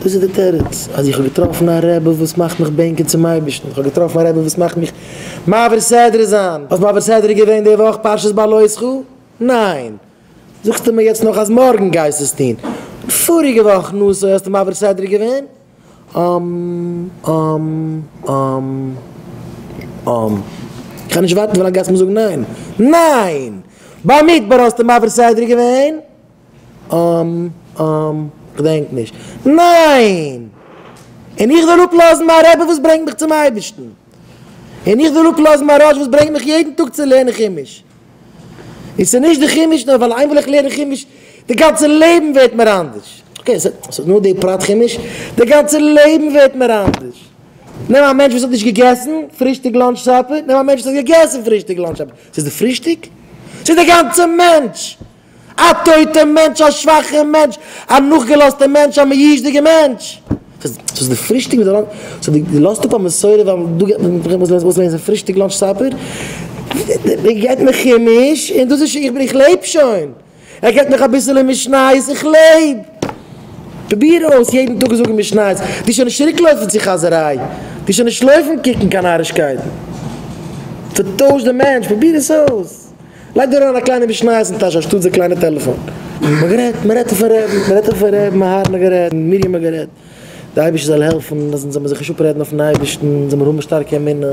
דאס איז די תירוץ, אז איך האב געטראפן א רבי וואס מאכט מיך בענקען צום אייבערשטן, איך האב געטראפן א רבי וואס מאכט מיך מעביר סדרה זיין, האסט מעביר סדרה געווען די וואך פרשת בלעותך? ניין! זאגסטו מיר יעצט נאך אז מארגן גייסטו עס טון? פאריגע וואך נשוא האסטו מעביר סדרה געווען? אום אום אום אום. איך קען נישט ווארטן ווילאנג גייסט מיר זאגן ניין! ניין! במדבר האסטו מעביר סדרה געווען? אםם אםם כ'דענק נישט. ניין! און איך וויל אפלאזן מיין רבי וואס ברענגט מיך צום אייבערשטן. און איך וויל אפלאזן מיין ראש וואס ברענגט מיך יעדן טאג צו לערנען חומש. און ס'איז נישט די חומש נאר ווייל איינמאל איך לערן חומש די גאנצע לעבן ווערט מיר אנדערש. אקעי ס'איז נאר די פרט חומש, די גאנצע לעבן ווערט מיר אנדערש. נעם א מענטש וואס האט נישט געגעסן פרישטאג לאנטש סאפער, נעם א מענטש וואס האט געגעסן פרישטאג לאנטש סאפער. ס'איז די פרישטאג? ס'איז די גאנצע מענטש! א טויטע מענטש, א שוואכע מענטש, א נאכגעלאזטע מענטש, א מיאוש'דיגע מענטש. ס'איז די פרישטאג מיט די לאנטש, סאו דו לאזט אפ א מסורה ווייל דא גייט מען פארזען וואס וואס לענס איז פרישטאג לאנטש סאפער? ער געט מיר חומש און דאס איז שוין, איך בין איך לעב שוין. ער געט מיך אביסעלע משניות, איך לעב. פרוביר אויס יעדן טאג זאגן משניות, וועסט שוין נישט צוריק לויפן צו חאזעריי, וועסט שוין נישט לויפן קוקן קיין נארישקייטן. ס'טוישט די מענטש, פרוביר עס אויס. לייג דיר אריין א קליינע משניות אין טאש אנשטאט די קליינע טעלעפאן. מען האט גערעדט, מען רעדט אויפן רעדן, מען רעדט אויפן רעבן, מהרן האט גערעדט, מרים האט גערעדט, די אייבערשטער זאל העלפן אז אונז זאל מען זיך נישט אפרעדן אויפן אייבערשטן, אונז זאל מען האבן שטארקע אמונה,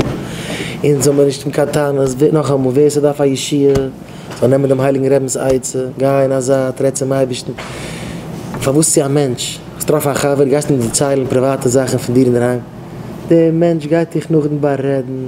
אונז זאל מען נישט האבן קיין טענות, ווער נאכאמאל ווער ס'דארף א ישועה זאל נעמען דעם הייליגן רעבנס עצה, גיי אין א זייט, רעד צום אייבערשטן, פארוואס צו א מענטש? האסט טראפן א חבר, גייסט אים דערציילן פריוואטע זאכן פון דיר אינדערהיים, דער מענטש גייט דיך נאכדעם בארעדן.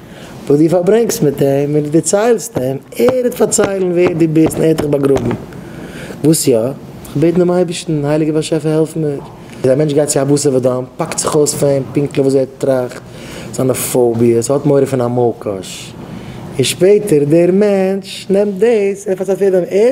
וואס דו פארברענגסט מיט אים, און דו דערציילסט אים, ער וועט פארציילן ווער דו ביסט און ער האט דיך באגראבן. וואס יא? איך בעט דעם אייבערשטן, הייליגער באשעפער העלף מיר. איז א מענטש גייט צו א בשר ודם, פאקט זיך אויס פאר אים פונקטליך וואס ער טראכט, זיינע פאוביעס, האט מורא פון א מאלקאש, און שפעטער דער מענטש נעמט דאס און ער פארציילט יעדעם, ער